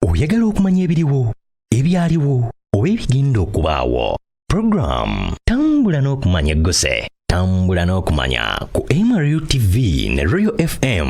oyagala okumanya ebiriwo ebyaliwo oba ebigenda okubaawo puroguramu tambula n'okumanya egguse tambula n'okumanya ku mru tv ne royal fm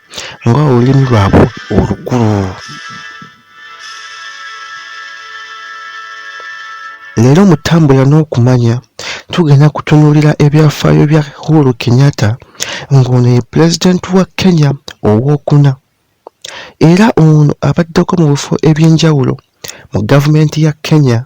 nga olulimi lwabwe olukulu. Leero mu ttambula n'okumanya tugenda kutunuulira ebyafaayo bya Uhuru Kenyatta ng'ono ye pulezidenti wa Kenya owookuna era ono abaddeko mu bifo eby'enjawulo mu gavumenti ya Kenya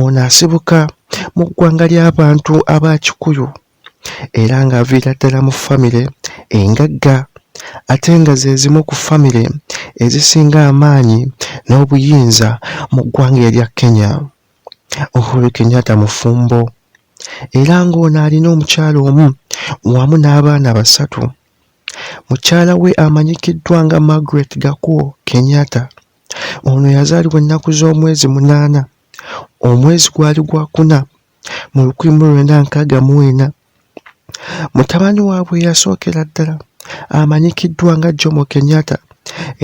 Ono asibuka mu ggwanga ly'abantu aba Kikuyu era ng'aviira ddala mu ffamire engagga ate nga ze zimu ku ffamire ezisinga amaanyi n'obuyinza mu ggwanga erya Kenya. Uhuru Kenyatta mufumbo era ng'ono alina omukyala omu wamu n'abaana basatu. Mukyala we amanyikiddwa nga Margaret Gakuo Kenyatta. Ono yazaalibwa ennaku z'omwezi munaana omwezi gwali gwa kuna mu lukumi mu lwenda nkaaga mu ena. Mutabani waabwe eyasookera ddala amanyikiddwa nga Jomo Kenyatta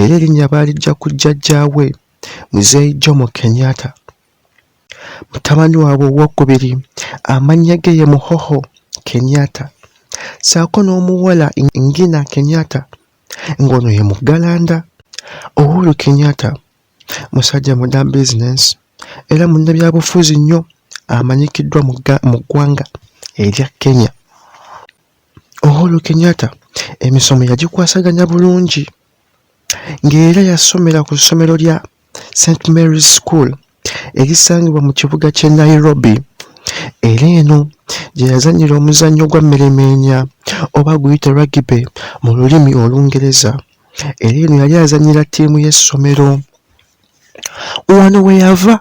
era erinnya baaliggya ku jjajjaawe Mzee Jomo Kenyatta. Mutabani waabwe owookubiri amannya ge ye Muhoho Kenyatta ssaako n'omuwala Ngina Kenyatta. ng'ono ye muggalanda Uhuru Kenyatta musajja muda bizinensi era munnabyabufuzi nnyo amanyikiddwa mu ggwanga erya Kenya. Uhuru Kenyatta emisomo yagikwasaganya bulungi ng'era yasomera ku ssomero lya St Mary's School erisangibwa mu kibuga ky'e Nairobi era eno gye yazannyira omuzannyo gwa mmeremeenya oba guyite ragibe mu lulimi olungereza era eno yali azannyira ttiimu y'essomero wano we yava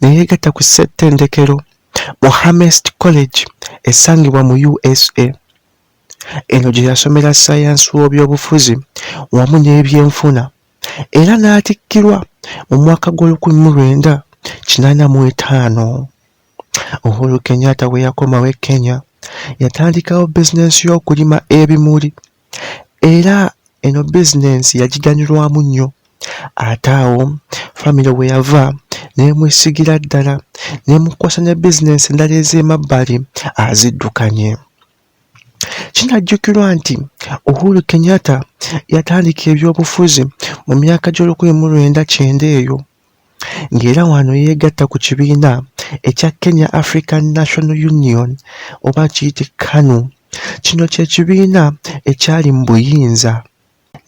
ne yeegatta ku ssettendekero mu hamest college esangibwa mu usa eno gye yasomera sayansi w'obyobufuzi wamu n'ebyenfuna era n'atikkirwa mu mwaka gw'olukumi mu lwenda kinaana mu etaano. Uhuru Kenyatta bwe yakomawo e Kenya yatandikawo bizinensi y'okulima ebimuli era eno bizinensi yagiganyulwamu nnyo ate awo famire we yava n'emwesigira ddala n'emukwasa ne bizinensi endala ez'emabbali aziddukanye. Kinajjukirwa nti Uhuru Kenyatta yatandika ebyobufuzi mu myaka gy'olukumi mu lwenda kyenda eyo ng'era wano yeegatta ku kibiina ekya Kenya African National Union oba kiyite KANU. Kino kye kibiina ekyali mu buyinza.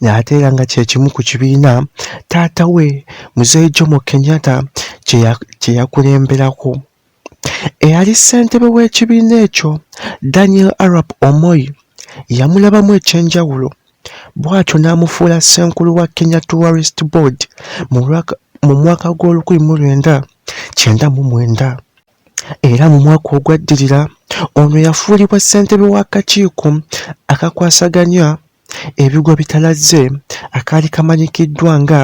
ng'ate era nga kye kimu ku kibiina taata we Mzee Jomo Kenyatta kye yakulemberako. Eyali ssentebe w'ekibiina ekyo Daniel Arap Omoi yamulabamu eky'enjawulo bw'atyo n'amufuula ssenkulu wa Kenya Tourist Board mu mwaka gw'olukumi mu lwenda kyenda mu mwenda. era mu mwaka ogwaddirira ono yafuulibwa ssentebe w'akakiiko akakwasaganya ebigwa bitalazze akaali kamanyikiddwa nga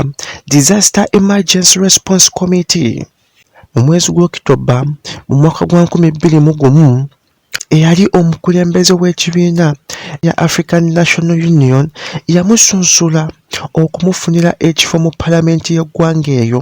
Disaster Emergency Response Committee mu mwezi gw'okitoba mu mwaka gwa nkumi bbiri mu gumu eyali omukulembeze w'ekibiina ya African National Union yamusunsula okumufunira ekifo mu palamenti y'eggwanga eyo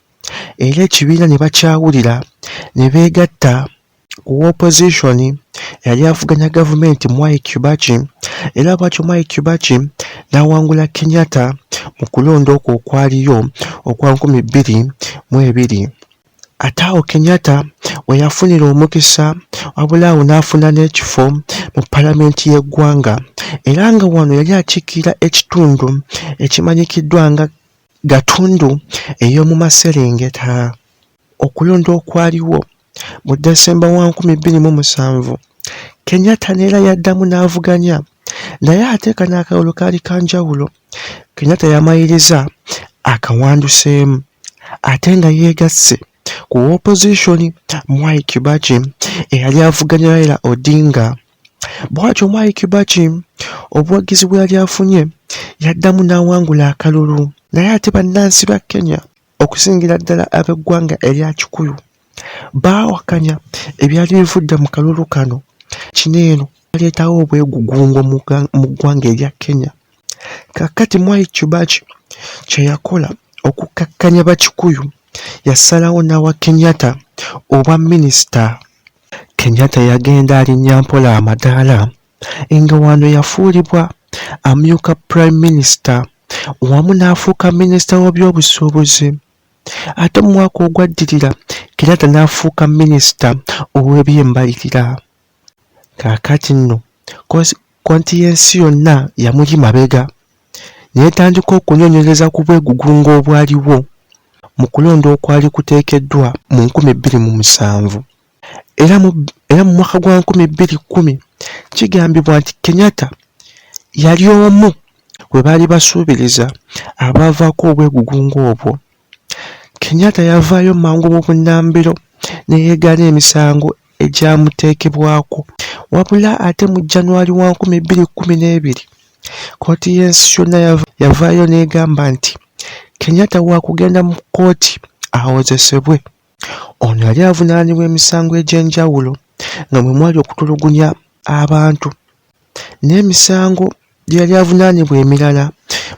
era ekibiina ne bakyawulira ne beegatta ku wopozisoni eyali avuganya gavumenti Mwai Kibaki era bwatyo Mwai Kibaki n'awangula Kenyatta mu kulonda okwo okwaliyo okwa nkumi bbiri mu ebiri. Ate awo Kenyatta we yafunira omukisa wabula awo n'afuna n'ekifo mu palamenti y'eggwanga era nga wano yali akiikirira ekitundu ekimanyikiddwa nga gatundu ey'omu maserengeta. Okulonda okwaliwo mu Decemba wa nkumi bbiri mu musanvu, Kenyatta neera yaddamu n'avuganya naye ate kano akalulu kaali ka njawulo. Kenyatta yamaliriza akawanduseemu ate nga yeegasse ku wopozisoni Mwai Kibaki eyali avuganya Raila Odinga Bwatyo Mwai Kibaki obuwagizi bwe yali afunye yaddamu n'awangula akalulu naye ate bannansi ba Kenya okusingira ddala ab'eggwanga erya Kikuyu baawakanya ebyali bivudde mu kalulu kano kino eno baleetawo obwegugungo mu ggwanga erya Kenya. Kaakati Mwai Kibaki kye yakola okukkakkanya Bakikuyu yasalawo n'awa Kenyatta obwa minisita. Kenyatta yagenda alinnya mpola amadaala nga wano yafuulibwa amyuka Prime Minister wamu n'afuuka minisita w'ebyobusuubuzi ate mu mwaka ogwaddirira Kenyatta n'afuuka minisita ow'ebyembalirira kaakati nno konti y'ensi yonna yamuli mabega. netandika okunonyereza ku bwegugungo obwaliwo mu kulonda okwali kuteekeddwa mu nkumi bbiri mu musanvu era mu era mu mwaka gwa nkumi bbiri kkumi kigambibwa nti Kenyatta yali omu gwe baali basuubiriza abaavaako obwegugungo obwo Kenyatta yavaayo mangu mu bunnambiro ne yeegaana emisango egyamuteekebwako wabula ate mu January wa nkumi bbiri kkumi n'ebiri, kkooti y'ensi yonna yavaayo n'egamba nti Kenyatta waakugenda mu kkooti awozesebwe. Ono yali avunaanibwa emisango egy'enjawulo nga mwe mwali okutulugunya abantu n'emisango gye yali avunaanibwa emirala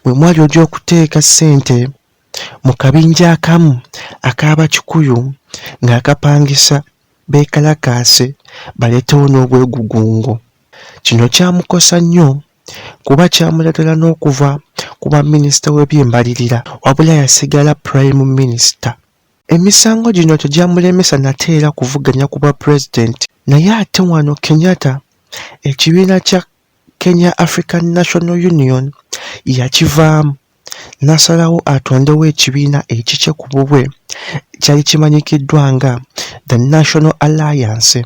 mwe mwali ogyokuteeka ssente mu kabinja akamu ak'Abakikuyu ng'akapangisa beekalakaase baleetewo n'obwegugungo. Kino kyamukosa nnyo kuba kyamuleetera n'okuva ku bwaminisita w'ebyembalirira wabula yasigala Pulayime Minisita. Emisango gino tegyamulemesa nate era kuvuganya ku bwapulezidenti naye ate wano Kenyatta ekibiina kya Kenya African National Union yakivaamu n'asalawo atondewo ekibiina ekikye ku bubwe ekyali kimanyikiddwa nga The National Alliance.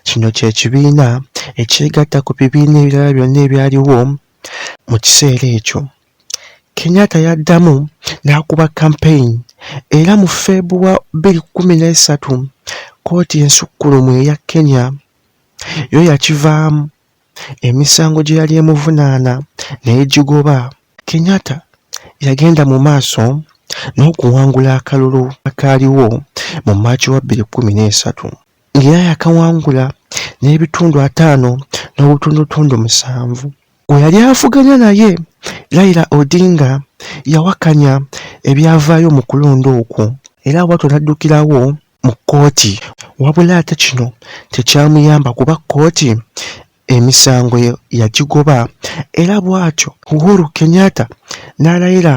Kino kye kibiina ekyegatta ku bibiina ebirala byonna ebyaliwo mu kiseera ekyo. Kenyatta yaddamu n'akuba kampeyini era mu Febuwa bbiri kkumi n'esatu, kkooti ensukkulumu eya Kenya yo yakivaamu. emisango gye yali emuvunaana naye gigoba. Kenyatta yagenda mu maaso n'okuwangula akalulu akaaliwo mu Maaci wa bbiri kkumi n'esatu ng'era yakawangula n'ebitundu ataano n'obutundutundu musanvu. Gwe yali avuganya naye Raila Odinga yawakanya ebyavaayo mu kulonda okwo era bwatyo n'addukirawo mu kkooti wabula ate kino tekyamuyamba kuba kkooti emisango yagigoba era bw'atyo Uhuru Kenyatta n'alayira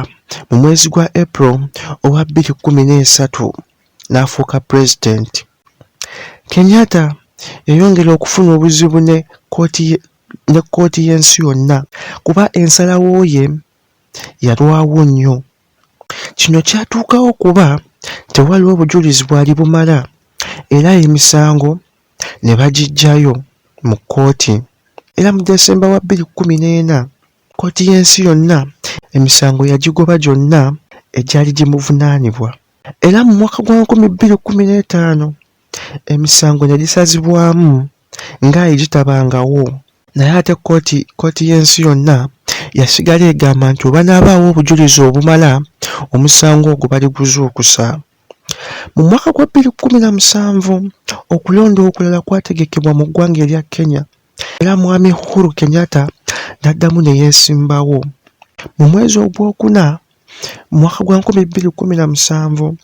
mu mwezi gwa April owa bbiri kkumi n'esatu n'afuuka pulezidenti. Kenyatta yayongera okufuna obuzibu ne kkooti y'ensi yonna kuba ensalawo ye yalwawo nnyo. Kino kyatuukawo kuba tewaliwo bujulizi bwali bumala era emisango ne bagiggyayo mu kkooti era mu December wa bbiri kkumi n'ena, kkooti y'ensi yonna emisango yagigoba gyonna egyali gimuvunaanibwa era mu mwaka gwa nkumi bbiri kkumi n'etaano, emisango negisazibwamu nga egitabangawo naye ate kkooti kkooti y'ensi yonna yasigala egamba nti webanaabaawo obujulizi obumala omusango ogwo baliguzuukusa. Mu mwaka gwa bbiri kkumi na musanvu okulonda okulala kwategekebwa mu ggwanga erya Kenya era Mwami Uhuru Kenyatta n'addamu ne yeesimbawo. Mu mwezi ogwokuna Mu mwaka gwa nkumi bbiri kkumi na musanvu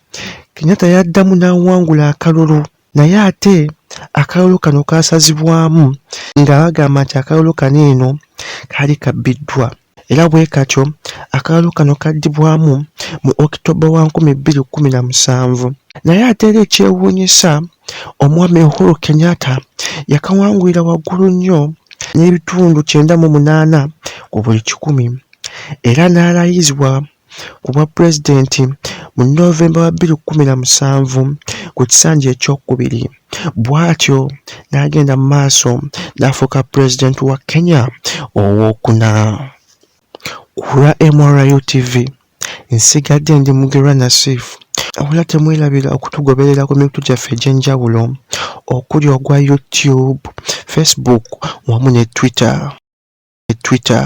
Kenyatta yaddamu n'awangula akalulu naye ate akalulu kano kaasazibwamu nga bagamba nti akalulu kano eno kaali kabbiddwa era bwe katyo akalulu kano kaddibwamu mu Okitoba wa nkumi bbiri kkumi na musanvu naye ate era ekyewuunyisa Omwami Uhuru Kenyatta yakawangulira waggulu nnyo n'ebitundu kyenda mu munaana ku buli kikumi era n'alayizibwa ku bwa pulezidenti mu November wa bbiri kkumi na musanvu ku kisanja ekyokubiri bw'atyo n'agenda mu maaso n'afuuka pulezidenti wa Kenya owookuna. Kulwa MRU TV nsigadde ndi Mugerwa Nasif wabula temwerabira okutugoberera ku mikutu gyaffe egy'enjawulo okuli ogwa YouTube, Facebook wamu ne Twitter. Twitter.